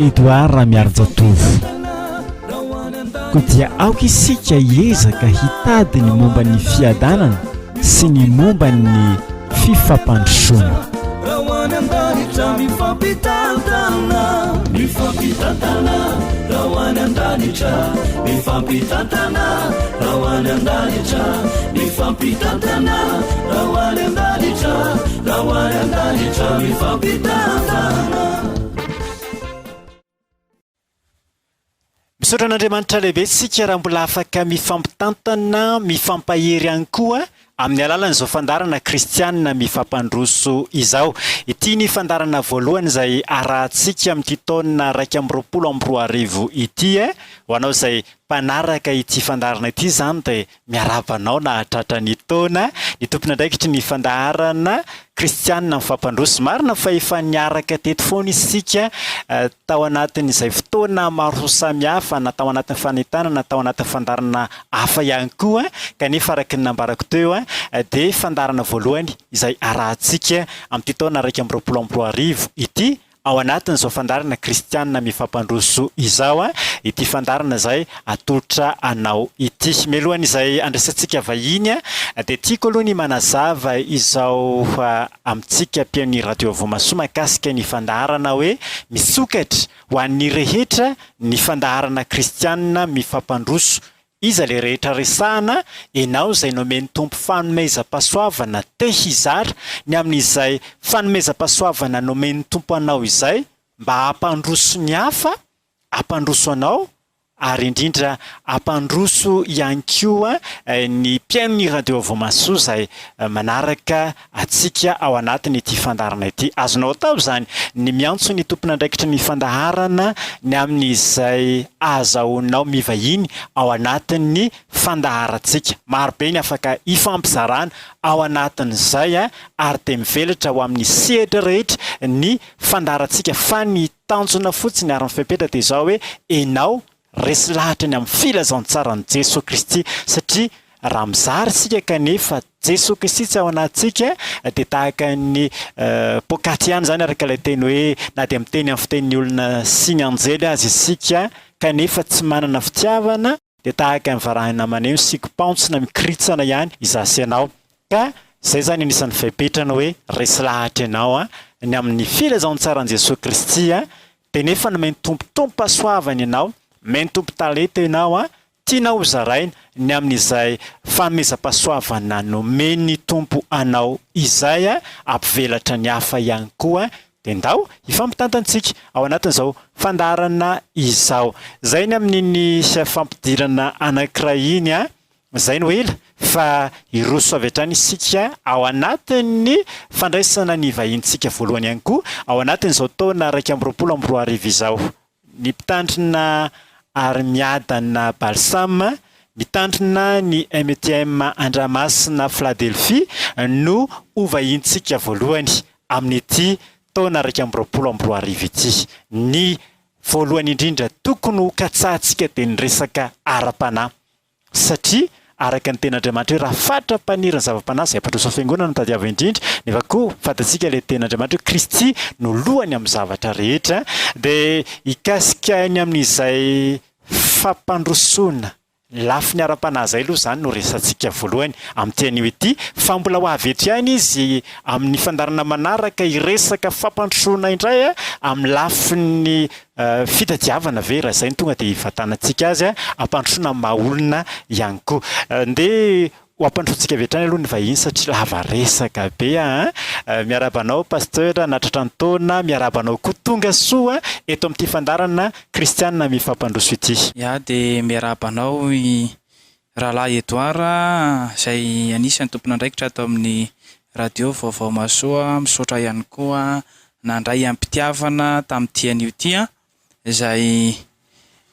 Edouard Ramiharinjatovo. Koa dia aoka isika hiezaka hitady ny momba ny fiadanana sy ny momba ny fifampandrosoana. Misaotra an'Andriamanitra lehibe isika raha mbola afaka mifampitantana, mifampahery ihany koa amin'ny alalan'izao fandaharana kristianina mifampandroso izao. Ity ny fandaharana voalohany izay arahantsika amin'ity taona iraika amby roapolo amby roa arivo ity. Ho anao izay mpanaraka ity fandaharana ity izany dia Miarahaba anao nahatratra ny taona ny tompon'andraikitry ny fandaharana kristianina amin'ny fampandroso. Marina fa efa niaraka teto foana isika tao anatin'izay fotoana maro samihafa na tao anatin'ny fanentanana na tao anatin'ny fandaharana hafa ihany koa kanefa araka ny nambarako teo dia fandaharana voalohany izay arahantsika amin'ity taona iraika amby roapolo amby roa arivo ity Ao anatin'izao fandaharana kristiana mifampandroso izao ity fandaharana izay atolotra anao ity. Mialohan'izay andraisantsika vahiny dia tiako aloha ny manazava izao amintsika mpihaonon'ny Radio Voamasoa mahakasika ny fandaharana hoe misokatra ho an'ny rehetra ny fandaharana kristiana mifampandroso Iza le rehetra resahana enao zay nomen'ny Tompo fanomezam-pasoavana te hizara ny amin'izay fanomezam-pasoavana nomen'ny Tompo anao izay mba hampandroso ny hafa hampandroso anao ary indrindra hampandroso ihany koa ny mpihaino ny radio voamasoa zay manaraka antsika ao anatin' ity fandaharana ity. Azonao atao izany ny miantso ny tompon'andraikitry ny fandaharana ny amin' izay ahazahoanao mivahiny ao anatin' ny fandaharantsika. Maro be ny afaka hifampizarana ao anatin' izay ary dia mivelatra ho amin' ny sehatra rehetra ny fandaharantsika fa ny tanjona fotsiny ary ny fepetra dia izao hoe enao Resy lahatra ny amin'ny filazantsaran'i Jesoa Kristy satria raha mizara isika kanefa Jesoa Kristy tsy ao anatintsika dia tahaka ny poakaty ihany izany araka ilay teny hoe na dia miteny amin'ny fitenin'ny olona sy ny anjely aza isika kanefa tsy manana fitiavana dia tahaka ny varahina maneho ny sikim-pantsona mikoritsana ihany izaho sy ianao. Ka izay izany anisan'ny fepetra ny hoe resy lahatra ianao ny amin'ny filazantsaran'i Jesoa Kristy Dia nefa ny maitompo tompasoavany ianao, maitompo talenta ianao an, tianao ho zaraina ny amin'izay fanomezam-pahasoavana nomen'ny Tompo anao izay an, hampivelatra ny hafa ihany koa dia ndao hifampitantantsika ao anatin'izao fandaharana izao. Izay ny amin'iny fampidirana anankiray iny an. Izay no ela fa hiroso avy hatrany isika ao anatin'ny fandraisana ny vahinintsika voalohany ihany koa ao anatin'izao taona iraika amby roapolo amby roa arivo izao. Ny mpitandrina ary miadana Balsam, mitandrina ny MTM Andramasina Fladelphie no ho vahinintsika voalohany amin'ity taona iraika amby roapolo amby roa arivo ity. Ny voalohany indrindra tokony ho katsahantsika dia ny resaka ara-panahy. Satria, araka ny Tenin'Andriamanitra hoe raha fatra-paniry ny zava-panahy izay ampandroso fiangonana no tadiavo indrindra, nefa koa fantatsika ilay Tenin'Andriamanitra hoe Kristy no lohany amin'ny zavatra rehetra, dia hikasika ny amin'izay fampandrosoana lafiny ara-panahy izay aloha izany no resatsika voalohany amin'ity anio ity, fa mbola ho avy eto ihany izy amin'ny fandaharana manaraka hiresaka fampandrosoana indray amin'ny lafiny Fitadiavana ve raha izay no tonga dia hivantanantsika azy, hampandrosoana ny maha olona ihany koa. Andeha ho hampandrosoantsika avy hatrany aloha ny vahiny satria lava resaka be an! Miarahaba anao Pasteur nahatratra ny taona, miarahaba anao koa tonga soa eto amin'ity fandaharana Kristianina mifampandroso ity. Iah dia miarahaba anao i Rahalahy Edouard, izay anisan'ny tompon'andraikitra ato amin'ny Radio Vaovao Mahasoa, misaotra ihany koa nandray am-pitiavana tamin'ity anio ity, izay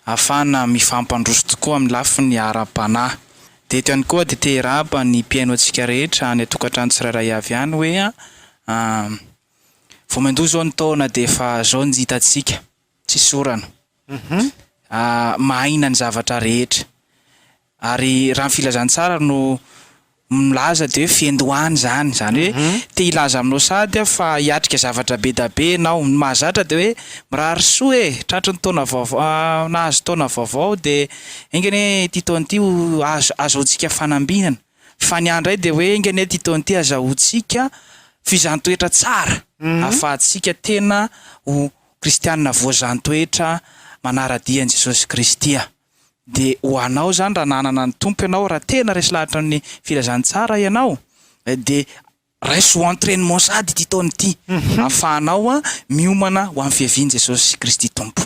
ahafahana mifampandroso tokoa amin'ny lafiny ara-panahy. Dia eto ihany koa dia te hirahaba ny mpihaino antsika rehetra any an-tokantrano tsirairay avy any hoe, vao mandoa izao ny taona dia efa izao ny hitantsika. tsy sorana. Mahaina ny zavatra rehetra. Ary raha ny filazantsara no milaza dia hoe fiandohany izany. Izany hoe te hilaza aminao sady aho fa hiatrika zavatra be da be ianao. Ny mahazatra dia hoe mirary soa e! Tratry ny taona vaovao, nahazo taona vaovao dia enga anie ity taona ity ho azo, azahoantsika fanambinana. Fa ny ahy indray dia hoe enga anie ity taona ity azahoantsika fizaham-toetra tsara ahafahantsika tena ho Kristianina voazan-toetra manara-dia an'i Jesosy Kristy aho. Dia ho anao izany raha nanana ny Tompo ianao, raha tena resy lahatra amin'ny Filazantsara ianao, dia raiso ho entrainement sady ity taona ity, ahafahanao miomana ho amin'ny fiavian'i Jesosy Kristy Tompo.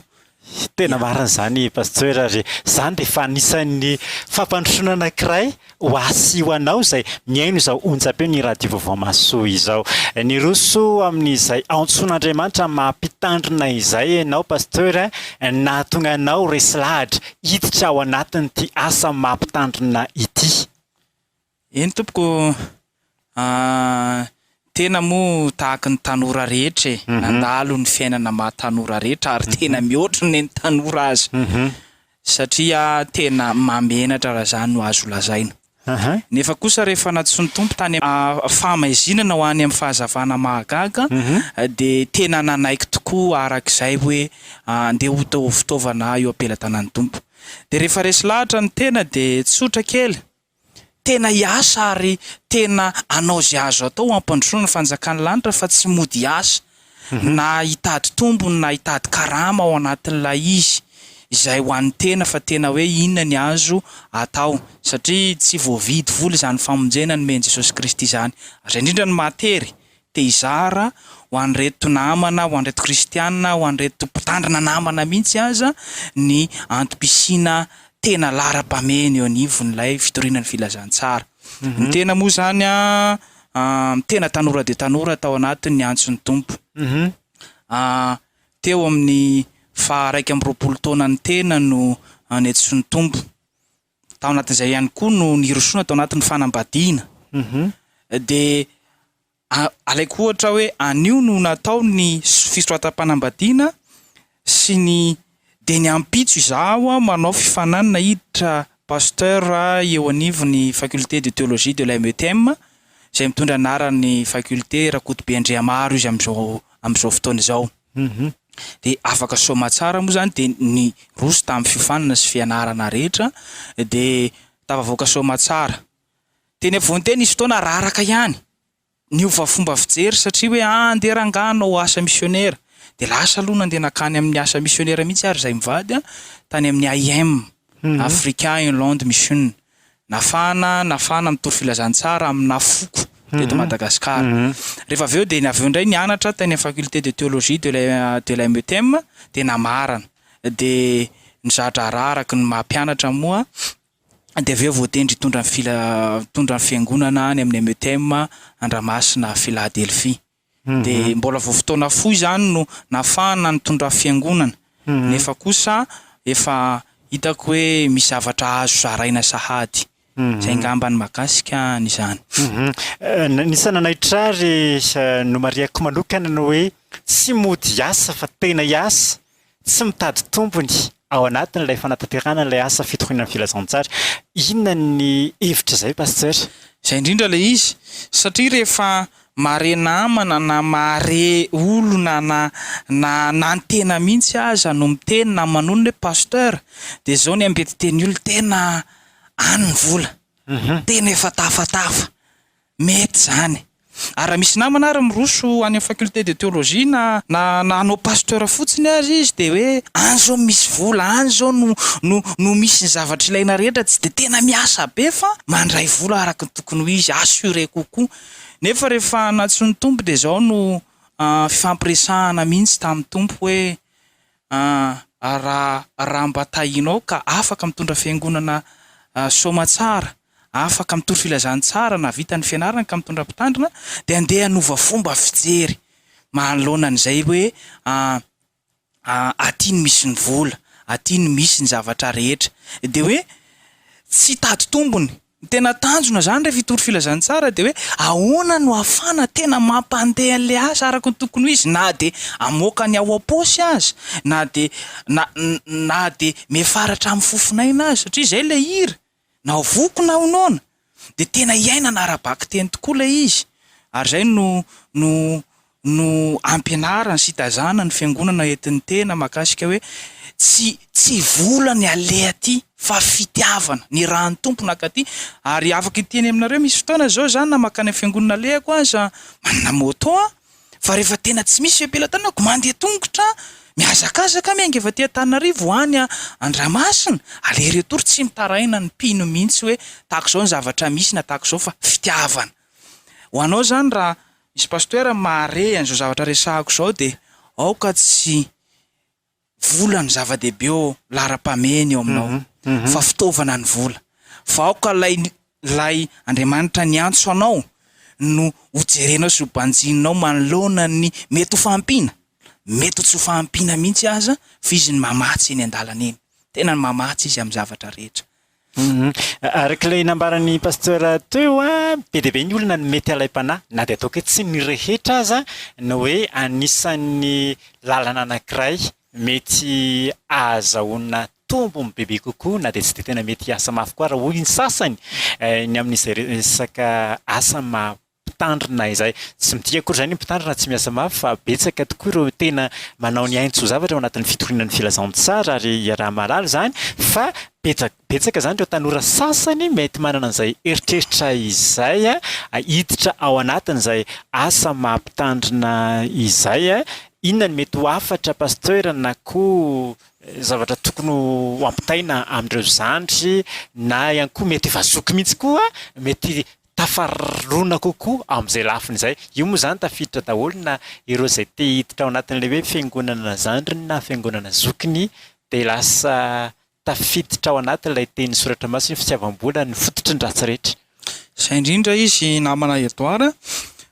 Tena marina izany Pasteur ary izany dia efa anisan'ny fampandrosoana anankiray Ho ahy sy ho anao izay mihaino izao onjam-peon'ny Radio Vaovao Mahasoa izao. Niroso amin'izay antsoin'Andriamanitra amin'ny maha Mpitandrina izay ianao Pasteur nahatonga anao resy lahatra hiditra ao anatin'ity asa maha Mpitandrina ity. Eny tompoko, Aah, tena moa tahaka ny tanora rehetra e, nandalo ny fiainana maha tanora rehetra ary tena mihoatra ny an'ny tanora aza satria tena mahamenatra raha izany no azo lazaina. Nefa kosa rehefa nantsoin'ny Tompo tany amin'ny fahamaizinana ho any amin'ny fahazavana mahagaga dia tena nanaiky tokoa araka izay hoe andeha ho fitaovana eo am-pelatanan'ny Tompo. Dia rehefa resy lahatra ny tena dia tsotra kely. Tena hiasa ary tena hanao izay azo atao hampandrosoana ny fanjakan'ny lanitra fa tsy mody hiasa na hitady tombony na hitady karama ao anatin'ilay izy izay ho an'ny tena fa tena hoe inona ny azo atao satria tsy voavidy vola izany famonjena nomen'i Jesosy Kristy izany ary indrindra ny maha tery te hizara ho an'ireto namana, ho an'ireto kristiana, ho an'ireto mpitandrina namana mihitsy aza ny antom-pisiana tena laharam-pahamehana eo anivon'ilay fitoriana ny filazantsara. Ny tena moa izany an, tena tanora dia tanora tao anatin'ny antson'ny Tompo. Teo amin'ny faha iraika amby roapolo taona ny tena no nentsoin'ny Tompo. tao anatin'izay ihany koa no nirosoana tao anatin'ny fanambadiana. Dia alaiko ohatra hoe anio no natao ny fisoratam-panambadiana sy ny dia ny ampitso izaho manao fifaninanana hiditra pasteur eo anivon'ny faculté de théologie de la METM izay mitondra ny anaran'ny faculté Rakotobe Andriamaro izy amin'izao amin'izao fotoana izao. Humm. De afaka soamatsara moa zany de niroso tamin'ny fiofanana sy fianarana rehetra de tafavoaka soamatsara. Teny afovoan'ny teny nisy fotoana raraka ihany, niova fomba fijery satria hoe ah andeha rangahy hanao asa misionera. De lasa aloha nandeha nakany amin'ny asa misionera mihitsy ary zahay mivady tany amin'ny AIM, Africa Inland Mission. nafana nafana mitovy filazantsara amina foko teto Madagasikara rehefa avy eo dia ny avy eo indray nianatra tany amin'ny faculté de théologie de de la METEM dia namarana dia ny za-draharaha araka ny maha mpianatra moa dia avy eo voatendry hitondra ny fila- hitondra ny fiangonana any amin'ny METEM Andramasina Philadelphie. dia mbola vao fotoana fohy izany no nahafahana nitondra fiangonana nefa kosa efa hitako hoe misy zavatra azo zaraina sahady, izay ngamba ny mahakasika an'izany. Nisy nanaitra ahy ry nomarihako manokana ny hoe tsy mody hiasa fa tena hiasa tsy mitady tombony ao anatin'ilay fanatanterahana ilay asa fitoriana ny filazantsara. Inona ny hevitra izay Pasteur? Izay indrindra ilay izy, satria rehefa mahare namana na mahare olona na na anantena mihitsy aza no miteny na manonona hoe Pasteur dia izao ny ambetiteny olona tena any ny vola, tena efa tafatafa. Mety zany. Ary raha misy namana ary miroso any amin'ny faculté de théologie na na na hanao pasteur fotsiny aza izy dia hoe any zao no misy vola, any zao no no no misy ny zavatra ilaina rehetra, tsy dia tena miasa be fa mandray vola araka ny tokony ho izy, assuré kokoa. Nefa rehefa nantsoin'ny Tompo dia zao no fifampiresahana mihitsy tamin'ny Tompo hoe Ahh raha raha mba tahinao ka afaka mitondra fiangonana soamatsara, afaka mitory filazantsara na vita ny fianarana ka mitondra mpitandrina dia andeha hanova fomba fijery manoloana an'izay hoe ahh ahh aty no misy ny vola, aty no misy ny zavatra rehetra dia hoe tsy hitady tombony. Ny tena tanjona izany rehefa hitory filazantsara dia hoe ahoana no ahafahana tena mampandeha an'ilay asa araka ny tokony ho izy na dia hamoaka ny ao am-paosy aza na dia na na dia miafara hatramin'ny fofon'aina aza satria izay ilay hira na ho voky na ho noana dia tena iainana ara-bakiteny tokoa ilay izy ary izay no no no ampianarany sy itazanany ny fiangonana entin'ny tena mahakasika hoe tsy tsy vola ny aleha aty fa fitiavana, ny ra ny Tompo naka aty ary afaka hiteny aminareo misy fotoana zao za na makany amin'ny fiangonana alehako aza manana moto an! fa rehefa tena tsy misy fepelatanako mandeha tongotra an! mihazakazaka miainga avy aty Antananarivo ho any Andramasina aleha retour tsy mitaraina ny mpino mihintsy hoe tahak'izao ny zavatra misy na tahak'izao fa fitiavana Ho anao izany raha misy pasteur mahare an'izao zavatra resahako izao dia aoka tsy vola no zava-dehibe eo laharam-pahamehana eo aminao fa fitaovana ny vola. Fa aoka ilay ilay Andriamanitra niantso anao no ho jerenao sy ho banjininao manoloana ny mety ho fahampiana, mety ho tsy ho fahampiana mihitsy aza f'izy no mamatsy eny an-dalana eny. Tena mamatsy izy amin'ny zavatra rehetra. Araka ilay nambaran'ny Pasteur teo, be dia be ny olona no mety halaim-panahy, na dia ataoko hoe tsy ny rehetra aza, ny hoe anisan'ny lalana anankiray mety ahazahoana tombony bebe kokoa na dia tsy dia tena mety hiasa mafy koa ary hoy ny sasany, ny amin'izay resaka asa maha mpitandrina izay. Tsy midika akory izany hoe mpitandrina tsy miasa mafy fa betsaka tokoa ireo tena manao ny ainy tsy ho zavatra ao anatin'ny fitoriana ny filazantsara ary iaraha-mahalala izany fa betsaka betsaka izany ireo tanora sasany mety manana an'izay eritreritra izay hiditra ao anatin'izay asa maha mpitandrina izay. Inona no mety ho hafatra Pasteur na koa zavatra tokony ho ampitaina amin'ireo zandry na ihany koa mety efa zoky mihitsy koa mety tafarona kokoa amin'izay lafiny izay. Io moa izany tafiditra daholo na ireo izay te hiditra ao anatin'ilay hoe fiangonana zandriny na fiangonana zokiny dia lasa tafiditra ao anatin'ilay tenin'ny soratra masina ny fitiavam-bola ny fototry ny ratsy rehetra. Izay indrindra izy namana Edouard,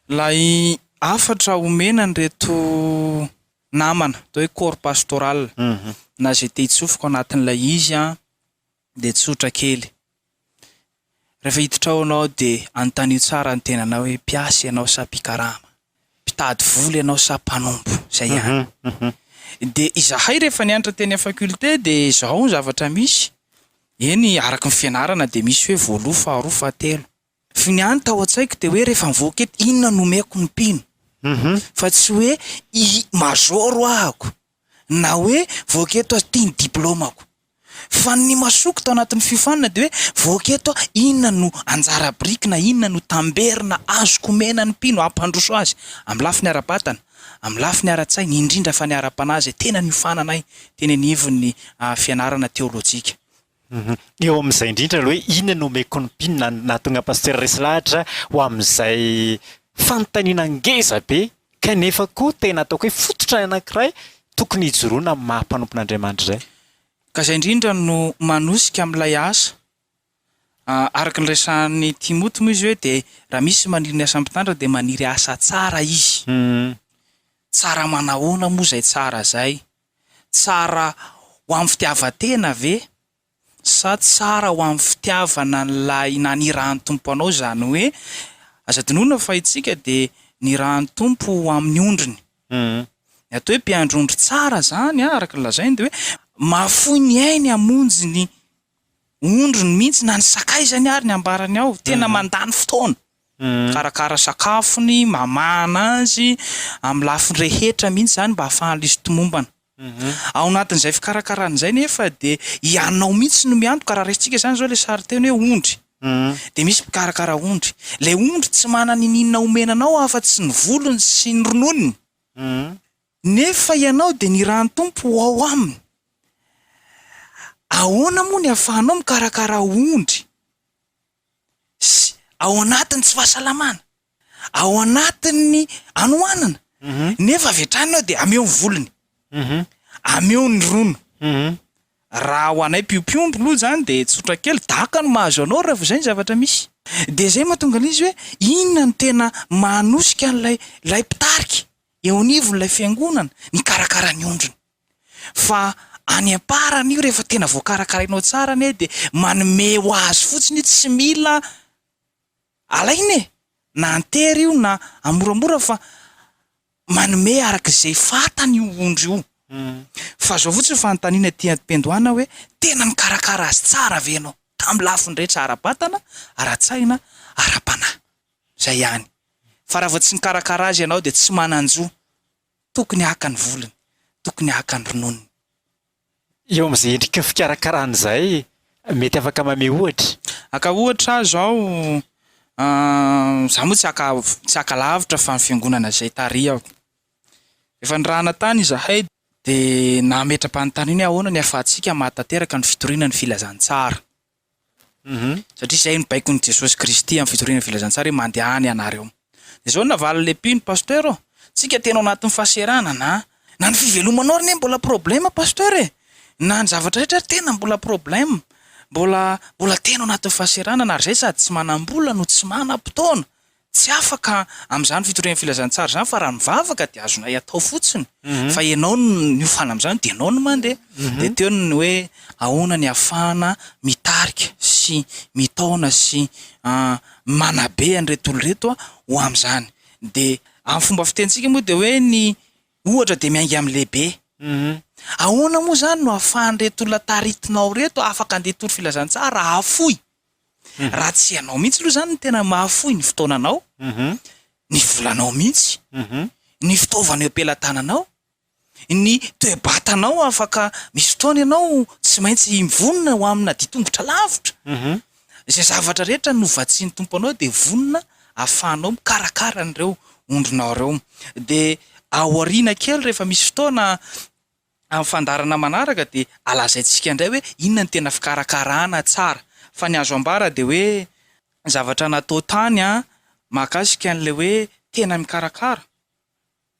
ilay hafatra omena an'ireto namana atao hoe corps pastoral na izay te hitsofoka ao anatin'ilay izy dia tsotra kely. Rehefa hiditra ao ianao dia anontanio tsara ny tenanao hoe mpiasa ianao sa mpikarama, mpitady vola ianao sa mpanompo, izay ihany. Dia izahay rehefa nianatra teny amin'ny faculté dia izao ny zavatra misy, eny araka ny fianarana dia misy hoe voaloha, faharoa, fahatelo. Fa ny ahy ny tao an-tsaiko dia hoe rehefa nivoaka eto inona no omeko ny mpino fa tsy hoe i major hoahako na hoe voaka eto aho ity ny diplaomako fa ny masoko tao anatin'ny fiofanana dia hoe voaka eto aho inona no anjara biriky na inona no tamberina azoko omena ny mpino hampandroso azy amin'ny lafiny ara-batana amin'ny lafiny ara-tsaina indrindra fa ny ara-panahy izay tena niofananay teny anivon'ny fianarana teolojika. Eo amin'izay indrindra aloha hoe inona no omeko ny mpino na nahatonga Pasitera resy lahatra ho amin'izay fanontaniana ngeza be kanefa koa tena ataoko hoe fototra anankiray tokony hijoroana amin'ny maha mpanompon'Andriamanitra izay. Ka izay indrindra no manosika amin'ilay asa. Araka ny resahan'i Timoty moa izy hoe dia raha misy maniry ny asan'ny mpitandrina dia maniry asa tsara izy. Tsara manahoana moa izay tsara izay? Tsara ho amin'ny fitiavan-tena ve sa tsara ho amin'ny fitiavana an'ilay nanirahan'ny Tompo anao? Izany hoe, aza adinoina fa isika dia nirahan'ny Tompo ho amin'ny ondriny. Ny atao hoe mpiandry ondry tsara izany, araka ny lazainy, dia hoe mahafoy ny ainy hamonjy ny ondriny mihitsy na ny sakaizany ary ny ambarany ao. Tena mandany fotoana. Mikarakara sakafony, mamahana azy amin'ny lafiny rehetra mihitsy izany mba hahafahan'izy tomombana. Ao anatin'izay fikarakarana izay nefa dia ianao mihitsy no miantoka, raha raisintsika izany izao ilay sarinteny hoe ondry, dia misy mpikarakara ondry. Ilay ondry tsy manana iniana omena anao afa-tsy ny volony sy ny rononony, nefa ianao dia ny ran'ny Tompo ho ao aminy. Ahoana moa ny ahafahanao mikarakara ondry sy ao anatin'ny tsy fahasalamana, ao anatin'ny anoanana, nefa avy hatrany ianao dia ameo ny volony, ameo ny rono, raha ho anay mpiompiompy loha zany de tsotra kely, daka no mahazo anao rehefa izay ny zavatra misy, de zay mahatonga an'izy hoe inona no tena mahanosika an'ilay ilay mpitarika eo anivon'ilay fiangonana, mikarakara ny ondriny. Fa any am-parany io rehefa tena voakarakarainao tsara anie dia manome ho azy fotsiny io tsy mila alaina e! na antery io na amoramora fa manome araka izay fantany io ondry io fa zao fotsiny fanontaniana ety am-piandohana hoe tena nikarakara azy tsara ve ianao tamin'ny lafiny rehetra ara-batana, ara-tsaina, ara-panahy? zay ihany fa raha vao tsy nikarakara azy ianao dia tsy manan-jo. Tokony haka ny volony, tokony haka ny rononony. Eo amin'izay endrika fikarakarana izay, mety afaka mamehy ohatra? Haka ohatra aho izao, izaho moa tsy haka tsy haka lavitra fa ny fiangonana izay tarihako. Efa nirahana tany izahay dia nametra-panontaniana hoe ahoana ny ahafahantsika mahatateraka ny fitoriana ny filazantsara. Satria izay no baikon'i Jesosy Kristy amin'ny fitoriana ny Filazantsara hoe mandehana ianareo. Dia izao no navalin'ilay mpino, Pasteur ô, tsika tena ao anatin'ny fahaserana na, na ny fivelomanao ary anie mbola problème Pasteur e! Na ny zavatra rehetra ary tena mbola problème. Mbola, mbola tena ao anatin'ny fahaserana na ry izay sady tsy manam-bola no tsy manam-potoana. Tsy afaka amin'izany fitorian'ny filazantsara izany fa raha mivavaka dia azonay atao fotsiny fa ianao no niofana amin'izany dia ianao no mandeha. Dia teo ny hoe ahoana ny ahafahana mitarika sy mitaona sy manabe an'ireto olona ireto ho amin'izany. Dia amin'ny fomba fitenintsika moa dia hoe ny ohatra dia miainga amin'ny lehibe. Ahoana moa izany no ahafahan'ireto olona taritinao ireto afaka handeha hitory filazantsara, hahafoy? Raha tsy ianao mihitsy aloha izany no tena mahafoy ny fotoananao, ny volanao mihitsy, ny fitaovana eo am-pelatananao, ny toe-batanao afaka misy fotoana ianao tsy maintsy mivonona ho amina dia tongotra lavitra. Izay zavatra rehetra novatsian'ny Tompo anao dia vonona ahafahanao mikarakara an'ireo ondrinao ireo. Dia ao aoriana kely rehefa misy fotoana Amin'ny fandaharana manaraka dia alazaintsika indray hoe inona no tena fikarakarana tsara. Fa ny azo ambara dia hoe ny zavatra natao tany mahakasika an'ilay hoe tena mikarakara.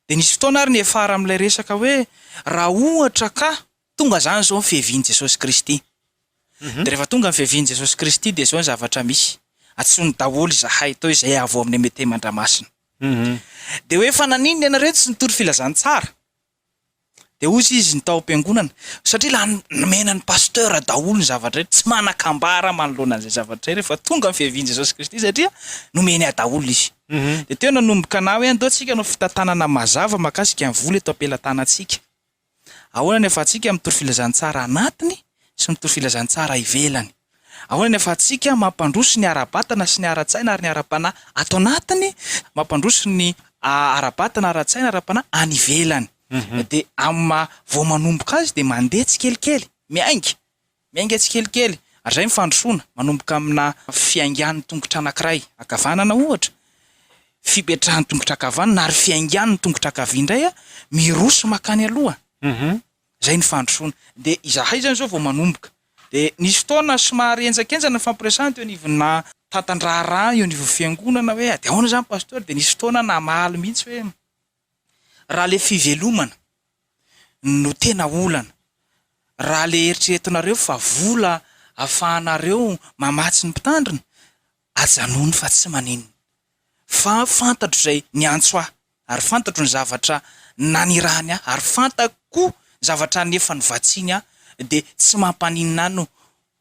Dia nisy fotoana ary niafara amin'ilay resaka hoe raha ohatra ka tonga izany izao ny fiavian'i Jesosy Kristy. Dia rehefa tonga ny fiavian'i Jesosy Kristy dia izao ny zavatra misy, antsoiny daholo izahay atao hoe izay avy ao amin'ny Metey Mandramasina. Dia hoe fa naninona ianareo tsy nitory filazantsara? Dia hozy izy ny tao am-piangonana, satria lany nomena ny pasteur daholo ny zavatra rehetra, tsy manan-kambara manoloana an'izay zavatra izay rehefa tonga ny fiavian'i Jesosy Kristy satria nomeny ahy daholo izy. Dia teo nanomboka na hoe andao tsika hanao fitantanana mazava makasika ny vola eto am-pelatanantsika. Ahoana ny ahafahantsika mitory filazantsara anatiny sy mitory filazantsara ivelany? Ahoana ny ahafahantsika mampandroso ny ara-batana sy ny ara-tsaina ary ny ara-panahy ato anatiny, mampandroso ny ara-batana, ara-tsaina, ara-panahy any ivelany? Dia amin'ny maha vao manomboka azy dia mandeha tsikelikely, miainga, miainga tsikelikely, ary izay ny fandrosoana, manomboka amina fiaingan'ny tongotra anankiray ankavanana ohatra, fipetrahan'ny tongotra ankavanana ary fiaingan'ny tongotra ankavia indray, miroso mankany aloha. Izay ny fandrosoana. Dia izahay izany izao vao manomboka. Dia nisy fotoana somary henjankenjana ny fampiresahana teo anivonà tantan-draharaha eo anivon'ny Fiangonana hoe ady ahoana izany Pastora, dia nisy fotoana namaly mihitsy hoe raha ilay fivelomana no tena olana, raha ilay eritreretinareo fa vola ahafahanareo mamatsy ny mpitandrina, Ajanony fa tsy maninona. Fa fantatro izay niantso ahy, ary fantatro ny zavatra nanirahany ahy, ary fantako koa ny zavatra nefa nivatsiny ahy, dia tsy mampaninona ahy no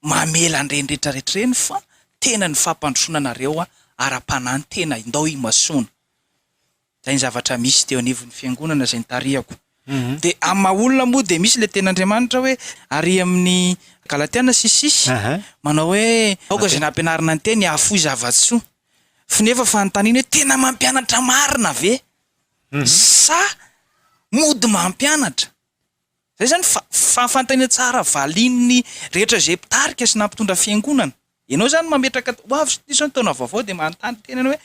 mamela an'ireny rehetrarehetra ireny, fa tena ny fampandrosoana anareo ara-panahy ny tena indao imasoana. Zay ny zavatra misy teo anivon'ny fiangonana izay nitarihako. De amin'ny maha olona moa dia misy ilay tenin'Andriamanitra hoe ary amin'ny Galatiana sy sisa manao hoe aoka izay nampianarina ny teny hahafoy zava-tsoa. F'y nefa fanontaniana hoe tena mampianatra marina ve? Sa mody mampianatra? Izay izany fa fa fantany tsara valin'ny rehetra izay mpitarika sy na mpitondra fiangonana. Ianao izany mametraka ho avy satria izao ny taona vaovao dia manontany tena ianao hoe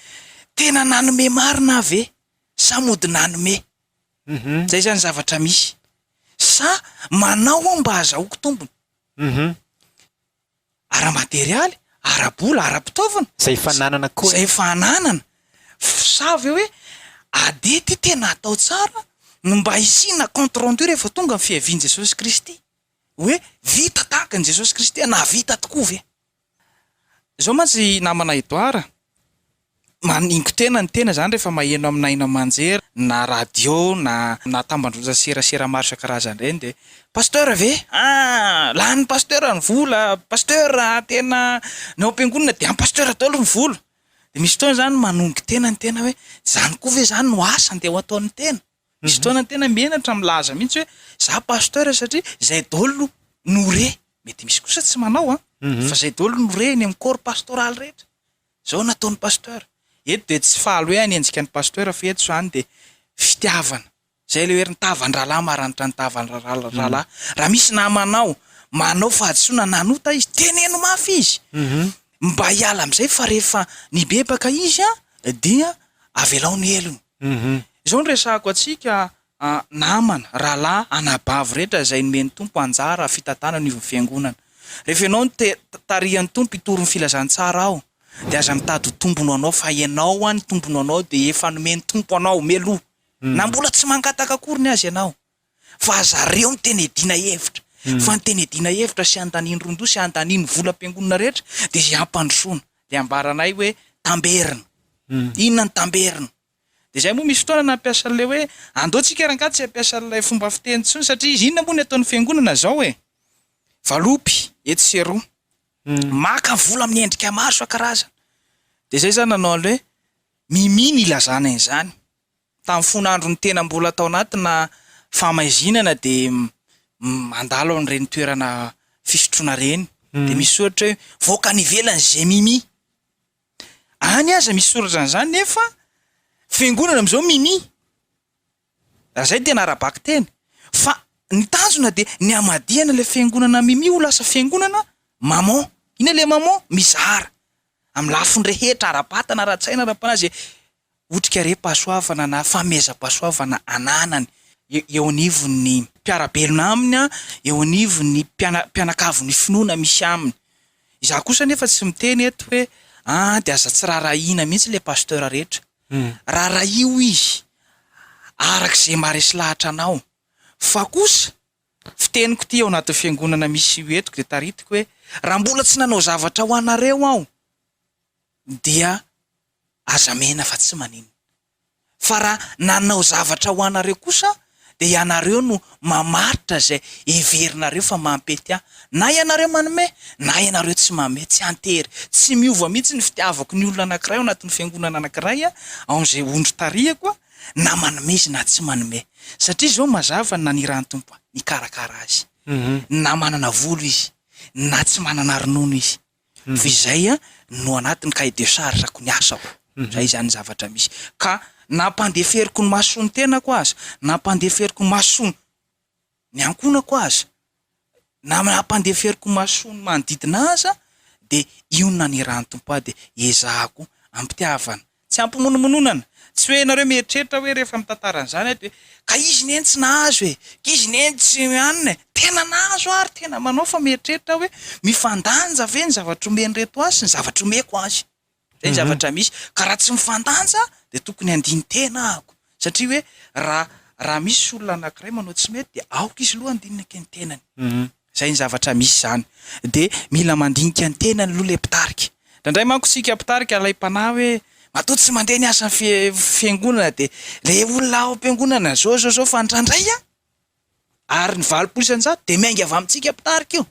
tena nanome marina aho ve sa mody nanome? Izay izany zavatra misy. Sa manao aho mba hazahoako tombony? ara-materialy, ara-bola, ara-pitaovana, Izay efa ananana koa. izay efa ananana, sa ve hoe ady ity tena atao tsara no mba hisiana compte rendu rehefa tonga ny fiavian'i Jesosy Kristy, hoe vita tahaka an'i Jesosy Kristy, nahavita tokoa ve? Izao mantsy i namana Edouard, Maningo-tena ny tena izany rehefa maheno amina haino aman-jery na radio na na tambandroza serasera maro isan-karazany ireny dia Pasteur ve? Ah! Lanin'ny Pasteur ny vola, Pasteur tena ny ao am-piangonana dia an'i Pasteur daholo ny vola. Dia misy fotoana izany manongo-tena ny tena hoe izany koa ve izany no asa andeha ho ataon'ny tena? Misy fotoana ny tena menatra milaza mihitsy hoe izaho Pasteur satria izay daholo no re. Mety misy kosa tsy manao an! Fa izay daholo no re eny amin'ny corps pastoral rehetra. Zao no ataony Pasteur. Eto dia tsy faly hoe hanenjika an'i Pasteur fa eto izany dia fitiavana. Izay ilay hoe ry tavan-drahalahy maranitra ny tavan-drahalahy. Raha misy namanao manao fahadisoana nanota izy, teneno mafy izy mba hiala amin'izay fa rehefa nibebaka izy dia avelao ny helony. Izao no resahako antsika a namana, rahalahy, anabavy rehetra izay nomen'ny Tompo anjara fitantanana io Fiangonana. Rehefa ianao no te tarihan'ny Tompo hitory ny Filazantsara aho, dia aza mitady ho tombony ho anao fa ianao any tombony ho anao dia efa nomen'ny Tompo anao mialoha, na mbola tsy mangataka akoriny aza ianao. Fa aza reo ny tena iadiana hevitra, fa ny tena iadiana hevitra sy andaniany rondoha sy andaniany volam-piangonana rehetra dia izay hampandrosoana. Dia ambaranay hoe tamberina. Inona ny tamberina? Dia izay moa misy fotoana nampiasa an'ilay hoe andao tsika ary angaha tsy hampiasa an'ilay fomba fiteny intsony satria izy inona moa ny ataon'ny fiangonana izao e? Valopy etsy sy eroa. Maka vola amin'ny endrika maro isan-karazany. Dia izay izaho nanao an'ilay hoe mimi ny ilazana an'izany. Tamin'ny fony andron'ny tena mbola tao anatina fahamaizinana dia mandalo amin'ireny toerana fisotroana ireny dia misy soratra hoe voaka any ivelany izay mimi. Any aza misy soratra an'izany nefa fiangonana amin'izao mini. Raha izay tena ara-bakiteny. Fa ny tanjona dia ny hamadihana ilay fiangonana mimi ho lasa fiangonana maman. Inona ilay maman? Mizara. Amin'ny lafiny rehetra, ara-batana, ara-tsaina, ara-panahy, izay otrikaream-pahasoavana na fanomezam-pahasoavana ananany eo anivon'ny mpiara-belona aminy, eo anivon'ny mpianakavin'ny finoana misy aminy. Izaho kosa anefa tsy miteny eto hoe an dia aza tsy raharahiana mihitsy ilay pasteur rehetra. Raharahiho izy araka izay maharesy lahatra anao. Fa kosa, fiteniko ity eo anatin'ny fiangonana misy entiko dia taritiko hoe raha mbola tsy nanao zavatra ho anareo aho dia. Aza mihena fa tsy maninona. Fa raha nanao zavatra ho anareo kosa dia ianareo no mamaritra izay heverinareo fa mampety ahy. Na ianareo manome, na ianareo tsy manome, tsy an-tery. Tsy miova mihitsy ny fitiavako ny olona anankiray ao anatin'ny fiangonana anankiray, ao amin'izay ondry tarihako, na manome izy na tsy manome. Satria izao no mazava ny nanirahan'ny Tompo ahy, nikarakara azy. Na manana volo izy, na tsy manana ronono izy. fa izay no anatin'ny cahier de charge-ko ny asako, izay izany zavatra misy, ka nampandeferiko ny mason'ny tenako aza, nampandeferiko ny mason'ny ankohonako aza, na nampandeferiko ny mason'ny manodidina ahy aza dia io no nanirahan'ny Tompo ahy dia ezahako ampitiavana Tsy hampimonomononana. Tsy hoe ianareo mieritreritra hoe rehefa mitantara an'izany aho dia hoe, ka izy neny tsy nahazo e! ka izy neny tsy hanina e! tena nahazo ary tena manao fa mieritreritra aho hoe mifandanja ve ny zavatra omen'ireto ahy sy ny zavatra omeko azy? Izay ny zavatra misy. Ka raha tsy mifandanja dia tokony handini-tena ahako satria hoe raha raha misy olona anankiray manao tsy mety dia aoka izy aloha handinina ken-tenany. Izay ny zavatra misy izany. Dia mila mandinika ny tenany aloha ilay mpitarika. Indraindray manko isika mpitarika alaim-panahy hoe matoa tsy mandeha ny asan'ny fiangonana dia ilay olona ao am-piangonana izao izao izao fa indraindray an! Ary ny valopolo isan-jato dia miainga avy amintsika mpitarika io.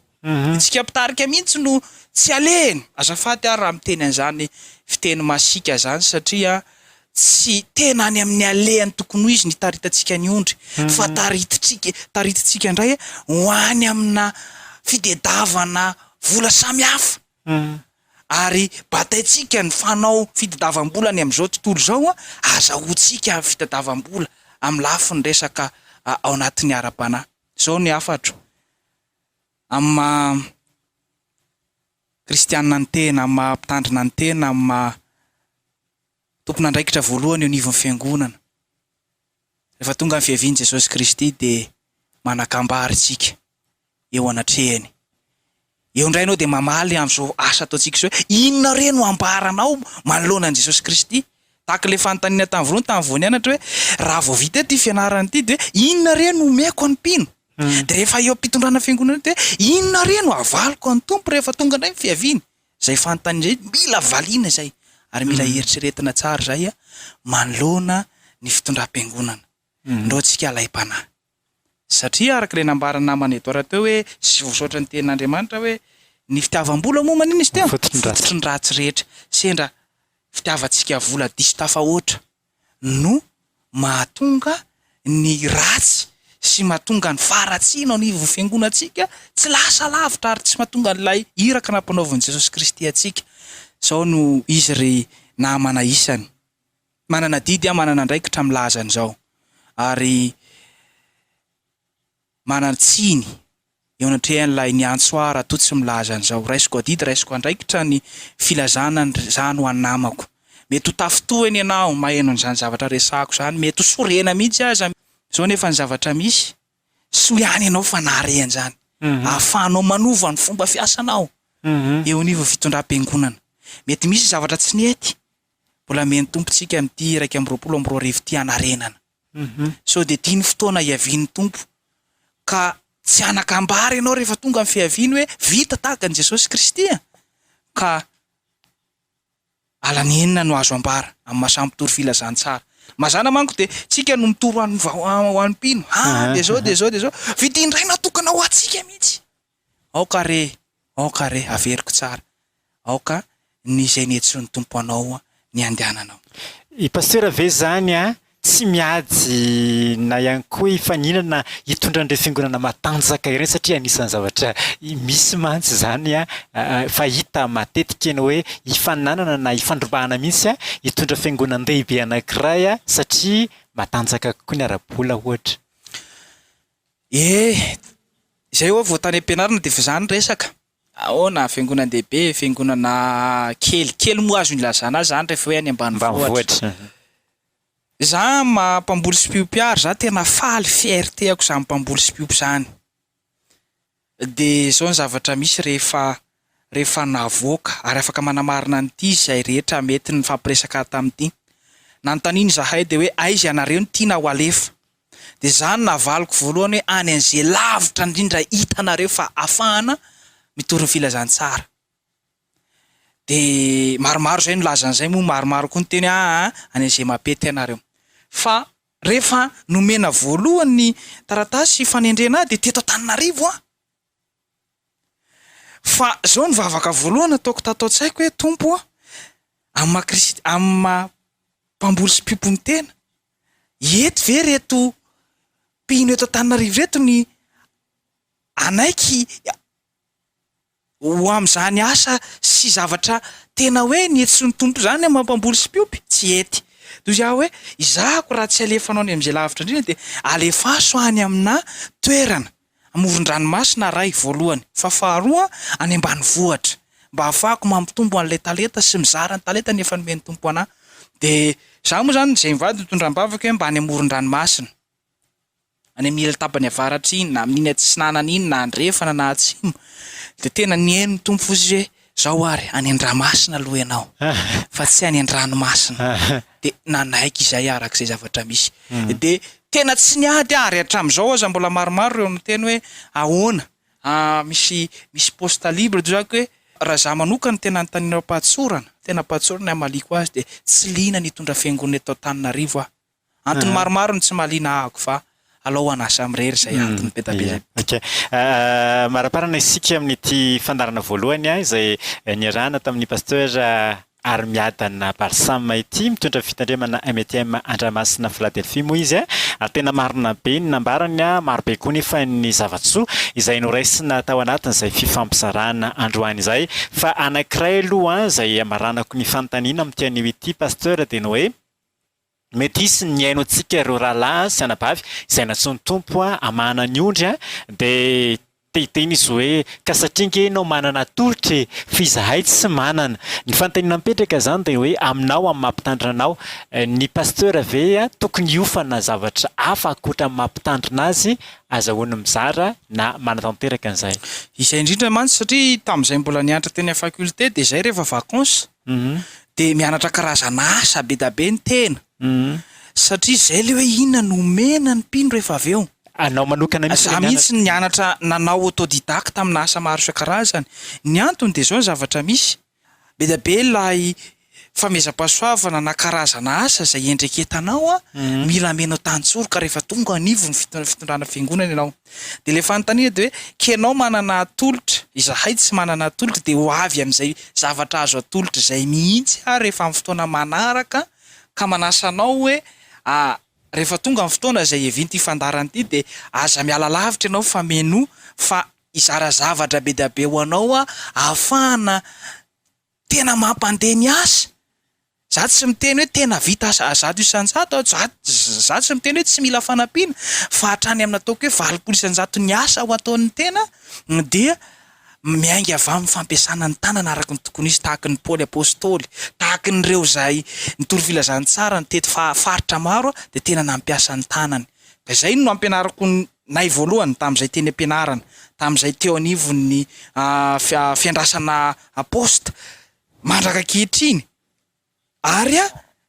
Isika mpitarika mihitsy no tsy alehany. Azafady ary raha miteny an'izany fiteny masiaka izany satria Tsy tena any amin'ny alehany tokony ho izy ny taritantsika ny ondry fa taritintsika taritintsika indray ho any amina fidedavana vola samihafa ary bataintsika ny fanao fitadavam-bola any amin'izao tontolo izao an, azahoantsika ny fitadavam-bola amin'ny lafiny resaka ao anatin'ny ara-panahy. Izao ny hafatro amin'ny maha kristianina ny tena, amin'ny maha mpitandrina ny tena, amin'ny maha. tompon'andraikitra voalohany eo anivon'ny Fiangonana. Rehefa tonga ny Fiavian'i Jesosy Kristy dia manakambary isika eo anatrehany. Eo indray ianao dia mamaly an'izao asa ataontsika izao hoe, inona re no ambaranao manoloana an'i Jesosy Kristy? Tahaka ilay fanontaniana tamin'ny voalohany, tamin'ny voan'ny anatra hoe, raha vao vita ity fianarana ity dia hoe, inona re no omeko ny mpino? Dia rehefa eo am-pitondrana Fiangonana eo dia hoe, inona re no avaliko an'ny Tompo rehefa tonga indray ny Fiaviany? Izay fanontaniana izay mila valiana izay ary mila eritreretina tsara izay manoloana ny fitondram-piangonana. Indreo antsika alaim-panahy. Satria araka ilay nambaran'ny namana Edouard teo hoe sy voasaotra ny tenin'Andriamanitra hoe ny fitiavam-bola moa manina izy teo? Fototry ny ratsy rehetra. Sendra fitiavantsika vola diso tafahoatra. no mahatonga ny ratsy sy mahatonga ny faharatsiana ao anivon'ny fiangonantsika tsy lasa lavitra ary tsy mahatonga an'ilay iraka nampanaovin'i Jesosy Kristy antsika. Izao no izy ry namana isany. Manana adidy aho, manana andraikitra milaza an'izao ary manan-tsiny eo anatrehan'ilay niantso ahy raha toa tsy milaza an'izao, Raisiko adidy, raisiko andraikitra ny filazana an'izany ho an'ny namako. Mety ho tafintohina ianao, maheno an'izany zavatra resahako izany, mety ho sorena mihitsy aza izao nefa ny zavatra misy, soa ihany ianao fa nahare an'izany. Ahafahanao manova ny fomba fiasanao eo anivon'ny fitondram-piangonana. Mety misy zavatra tsy nety, mbola mihaino tompontsika amin'ity iraika amby roapolo amby roa arivo ity hanarenana. Sao dia tia ny fotoana hiavian'ny Tompo, ka tsy hanan-kambara ianao rehefa tonga ny fiaviany hoe vita tahaka an'i Jesosy Kristy an! Ka alana enina no azo ambara amin'ny maha samy mpitory filazantsara. Mazàna manko dia tsika no mitory ho an'ny mpino, ah dia izao dia izao dia izao, vidim-biraina tokana ho antsika mihitsy. Aoka re, aoka re, averiko tsara, aoka ny izay nihetsin'ny Tompo anao ny handehananao. I Pasitera ve izany tsy miady na ihany koa hifaninana hitondra an'ireo fiangonana matanjaka ireny satria anisan'ny zavatra misy mantsy izany fa hita matetika ny hoe hifaninanana na hifandrombahana mihitsy hitondra fiangonan-dehibe anankiray satria matanjaka kokoa ny ara-bola ohatra? Eh! Izay ho'a vao tany am-pianarana dia efa izany ny resaka? Ahoana, fiangonan-dehibe, fiangonana kely, kely moa azo ilazana azy izany rehefa hoe any ambanivohitra? Za maha mpamboly sipiompy ary za tena faly, fierté-ako izany mpamboly sipiompy izany. Dia izao ny zavatra misy, rehefa rehefa navoaka ary afaka manamarina an'ity izay rehetra mety nifampiresaka tamin'ity. Nanontaniana izahay dia hoe, Aiza ianareo no tiana ho alefa? Dia izaho no navaliko voalohany hoe, Any an'izay lavitra indrindra hitanareo fa afahana mitory ny filazantsara. Dia maromaro izay nilaza an'izay moa maromaro koa niteny hoe, Aa, any an'izay mampety ianareo. Fa Rehefa nomena voalohany ny taratasy fanendrena ahy dia teto Antananarivo aho. Fa izao ny vavaka voalohany ataoko tato an-tsaiko hoe, Tompo ô, amin'ny maha Kristy, amin'ny maha Mpamboly sy Mpiompin'ny tena, eto ve ireto mpino eto Antananarivo ireto ny hanaiky Ho amin'izany asa sy zavatra tena hoe nihetsin'ny Tompo izany ny maha-mpamboly sy mpiompy, tsy hety. Toy izany hoe, Izahako raha tsy alefanao any amin'izay lavitra indrindra dia alefaso any aminà toerana amoron-dranomasina Ray, voalohany, fa faharoa, any ambanivohitra, mba hahafahako mampitombo an'ilay talenta sy mizara ny talentany efa nomen'ny Tompo anà. Dia izaho moa izany izay mivady no tondraham-bavaka hoe mba any amoron-dranomasina. any amin'ny ilany tapany avaratra iny, na amin'iny atsinanana iny, na andrefana na atsimo, dia tena nihaino ny Tompo fotsiny hoe, Izao ary, any an-dramasina aloha ianao, fa tsy any an-dranomasina. Dia nanaiky izay araka izay zavatra misy. Dia tena tsy niady ary hatramin'izao aza mbola maromaro ireo miteny hoe, ahoana, misy misy poste libre eto izany hoe, raha izaho manokana tena anontaniana am-pahatsorana, tena am-pahatsorana ny hamaliako azy dia tsy liana ny hitondra fiangonana eto Antananarivo aho. Antony maromaro no tsy mahaliana ahy Agofa, alao ho an'A samy irery izay antony be da be izay. Ok. Maraparana isika amin'ity fandaharana voalohany izay niarahana tamin'ny Pasteur Arimiadana Balsam ity, mitondra fitandremana MTM Andramasina Philadelphie moa izy ary tena marina be ny nambarany, maro be koa nefa ny zava-tsoa izay noraisina tao anatin'izay fifampizarana androany izay. Fa anankiray aloha izay hamaranako ny fanontaniana amin'ity anio ity Pasteur dia ny hoe. Mety hisy ny haino antsika ireo rahalahy sy anabavy izay nantsoin'ny Tompo hamahana ny ondry dia te hiteny izy hoe, ka satria ange ianao manana atolotra e! f'izahay tsy manana. Ny fanontaniana mipetraka izany dia hoe aminao amin'ny maha mpitandrina anao. Ny pasteur ve tokony hiofana zavatra hafa ankoatra ny maha mpitandrina azy? Azahoany mizara na manatanteraka an'izay. Izay indrindra mantsy satria tamin'izay mbola niantra teny amin'ny faculté dia izay rehefa vacances dia mianatra karazana asa be da be ny tena satria zay le hoe inona no omena ny mpino rehefa avy eo. Anao manokana mihitsy le mianatra. Za mihitsy no nianatra nanao autodidacte amina asa maro isan-karazany. Ny antony dia zao ny zavatra misy, be da be ilay famezam-pahasoavana na karazana asa zay iendreketanao an, mila amenao tantsoroka rehefa tonga anivon'ny fitondrana fiangonana ianao. Dia ilay fanontaniana dia hoe, kenao manana atolotra, izahay tsy manana atolotra, dia ho avy amin'izay zavatra azo atolotra izay mihitsy aho rehefa amin'ny fotoana manaraka ka manasa anao hoe, rehefa tonga ny fotoana izay hiavian'ity fandaharana ity dia aza miala lavitra ianao fa mihainoa fa hizara zavatra be dia be ho anao aho ahafahana Tena mampandeha ny asa. Za tsy miteny hoe tena vita zato isan-jato aho, za za tsy miteny hoe tsy mila fanampiana fa hatrany amin'ny ataoko hoe valopolo isan-jato ny asa ho ataon'ny tena dia miainga avy amin'ny fampiasana ny tanana araka ny tokony hisy tahaka ny Paoly Apostoly, tahaka ny ireo izay nitory filazantsara nitety faritra maro dia tena nampiasa ny tanany. Ka izay no ampianariko ny Nay voalohany, tamin'izay teny am-pianarana, tamin'izay teo anivon'ny fiandrasana Aposta, mandraka ankehitriny, ary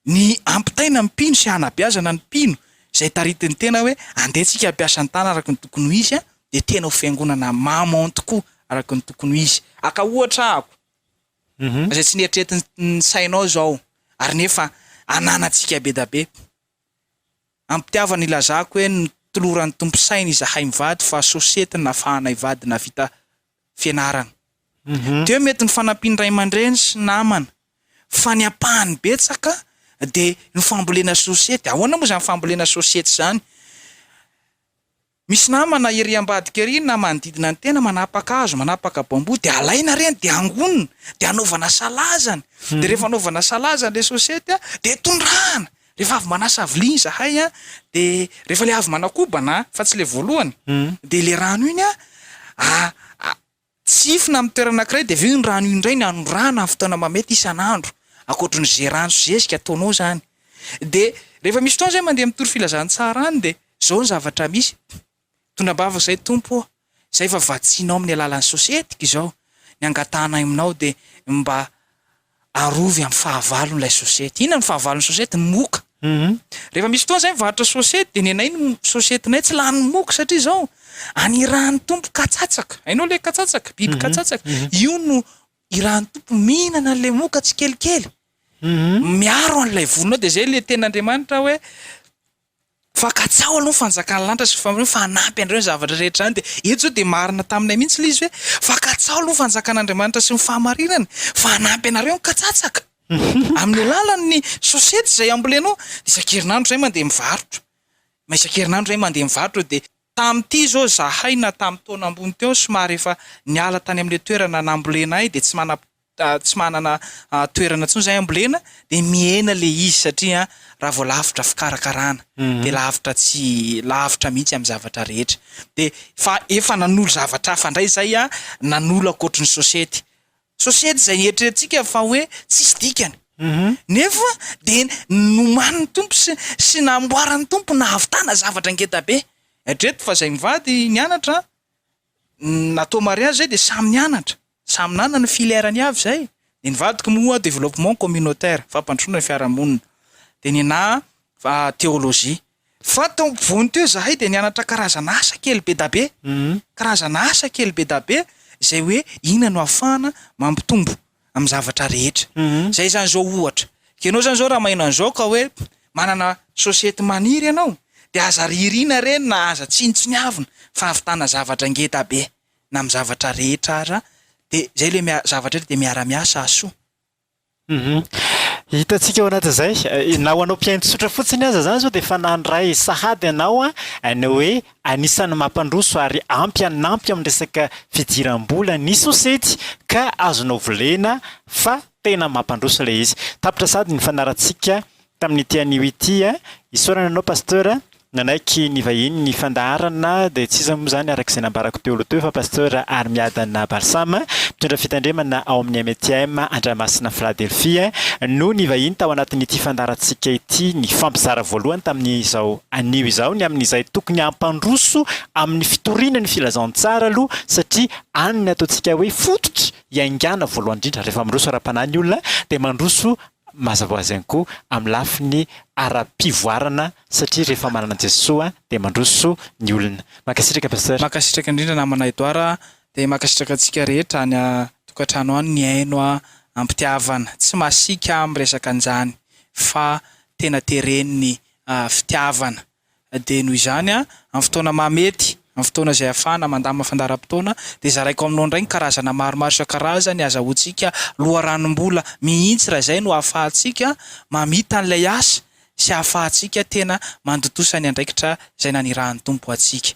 ny hampitaina ny mpino sy hanabeazana ny mpino, izay taritin'ny tena hoe, andeha tsika hampiasa ny tana araka ny tokony ho izy, dia tena ho fiangonana maman tokoa araka ny tokony ho izy. Haka ohatra ahako, izay tsy neritretin'ny sainao izao, ary nefa ananantsika be da be. Ampitiavana ilazako eny ny toloran'ny Tompo saina izahay mivady fa sosiety nafahana hivady nahavita fianarana. Teo mety ny fanampian'ny ray aman-dreny sy namana fa ny ampahany betsaka dia ny fambolena sosiety. Ahoana moa izany fambolena sosiety izany? Misy namana ery ambadika ery na manodidina ny tena manapaka hazo, manapaka bambou dia alaina ireny dia angonina dia anaovana salazany, dia rehefa anaovana salazany ilay sosety an dia tondrahana, rehefa avy manasa vilia izahay an dia rehefa ilay avy manakobana an fa tsy ilay voalohany dia ilay rano iny an Tsihifina amin'ny toerana anankiray dia avy eo ny rano io indray ny anondrahana amin'ny fotoana mamety isan'andro, ankoatry ny ze rano sy zezika ataonao zany. De rehefa misy fotoana zay mandeha mitory filazantsara any de zao ny zavatra misy, mitondra am-bava zay Tompo ô, zay efa vatsianao amin'ny alalan'ny sosety ko izao ny angatahanaay aminao de mba arovy amin'ny fahavalon'ilay sosety. Inona no fahavalon'ny sosety? Moka. Rehefa misy fotoana izahay mivarotra sosety dia ny anay ny sosetinay tsy lany moka satria izao any irahan'ny tompo katsatsaka. Hainao ilay katsatsaka? Biby katsatsaka. Io no irahan'ny tompo mihinana an'ilay moka tsikelikely. Miaro an'ilay volonao dia izay ilay tenin'Andriamanitra hoe Fa katsaho aloha ny fanjakan'ny lanitra sy ny famoronana fa hanampy anareo ny zavatra rehetra any dia eto izao dia marina taminay mihintsy ilay izy hoe fa katsaho aloha ny fanjakan'Andriamanitra sy ny fahamarinany fa hanampy anareo ny katsatsaka amin'ny alalan'ny sosety izay ambolenao isan-kerinandro izahay mandeha mivarotra ma isan-kerinandro izahay mandeha mivarotra dia tamin'ity izao izahay na tamin'ny taona ambony teo somary efa niala tany amin'ilay toerana nambolenay dia tsy manam tsy manana toerana intsony izay hambolena dia mihena ilay izy satria raha vao lavitra fikarakarana dia lavitra tsy lavitra mihitsy amin'ny zavatra rehetra dia fa efa nanolo zavatra hafa indray izay aho nanolo ankoatry ny sosety sosety izay eritreretintsika fa hoe tsisy dikany nefa dia nomanin'ny tompo sy sy namboaran'ny tompo nahavitana zavatra ngeda be hatreto fa izay mivady nianatra Natao mariazy izay dia samy nianatra, samy nanana ny filière-ny avy izay, dia ny vadiko moa développement communautaire, fampandrosoana ny fiarahamonina, dia ny anà théologie. Fa tao ampovoany teo izahay dia nianatra karazan'asa kely bedabe, karazan'asa kely bedabe izay hoe inona no ahafahana mampitombo amin'ny zavatra rehetra. Izay izany izao ohatra, ianao izany izao raha maheno an'izao ka hoe manana sosety maniry ianao dia aza ririana re na aza tsinontsiniavina fa hahavitana zavatra ngeda be na amin'ny zavatra rehetra aza dia izay ilay miara- zavatra rehetra dia miara-miasa hahasoa. Hitantsika ao anatin'izay, na ho anao mpihaino tsotra fotsiny aza izany izao dia efa nandray sahady ianao ny hoe Anisan'ny mampandroso ary ampy hanampy amin'ny resaka fidiram-bola ny sosety ka azonao volena fa tena mampandroso ilay izy. Tapitra sahady ny fanarahantsika tamin'ity anio ity. Isaorana anao Pasteur nanaiky nivahiny ny fandaharana dia tsy iza moa izany araka izay nambarako teo aloha teo fa Pasteur Arimiadana Balsam mpitondra fitandremana ao amin'ny MTM Andramasina Philadelphie no nivahiny tao anatin'ity fandaharantsika ity nifampizara voalohany tamin'izao Anio izao ny amin'izay tokony hampandroso amin'ny fitoriana ny filazantsara aloha satria any ny ataontsika hoe fototra iaingana voalohany indrindra. Rehefa mandroso ara-panahy ny olona dia mandroso mazava ho azy ihany koa amin'ny lafiny ara-pivoarana satria rehefa manana an'i Jesoa dia mandroso ny olona. Mankasitraka Pasteur. Mankasitraka indrindra namana Edouard a, dia mankasitraka antsika rehetra any a tokantrano any mihaino a ampitiavana, tsy masiaka a miresaka an'izany fa tena teren'ny fitiavana. Dia noho izany, amin'ny fotoana mahamety, amin'ny fotoana izay ahafahana mandamina fandaharam-potoana, dia zaraiko aminao indray ny karazana maromaro isan-karazany, azahoantsika loharanom-bola mihitsy raha izay no ahafahantsika mamita an'ilay asa sy ahafahantsika tena mandontosa ny andraikitra izay nanirahan'ny Tompo antsika.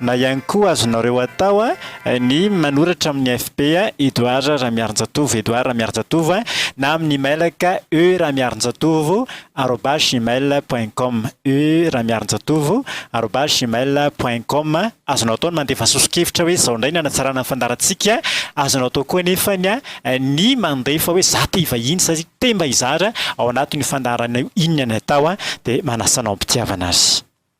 na ihany koa azonareo atao ny manoratra amin'ny FB Edouard Ramiarinjatovo, Edouard Ramiarinjatovo, na amin'ny emailaka e ramiarinjatovo arobase gmail point com, e ramiarinjatovo arobase gmail point com. Azonao atao ny mandefa soso-kevitra hoe izao indray ny hanatsarana ny fandaharantsika, azonao atao koa anefa ny mandefa hoe za te hivahiny sa te mba hizara ao anatin'io fandaharanao inona ny atao dia manasa anao am-pitiavana azy.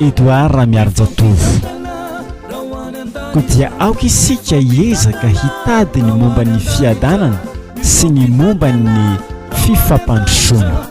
Edouard Ramiharijatovo. Koa dia aoka isika hiezaka hitady ny momba ny fiadanana sy ny momba ny fifampandrosoana.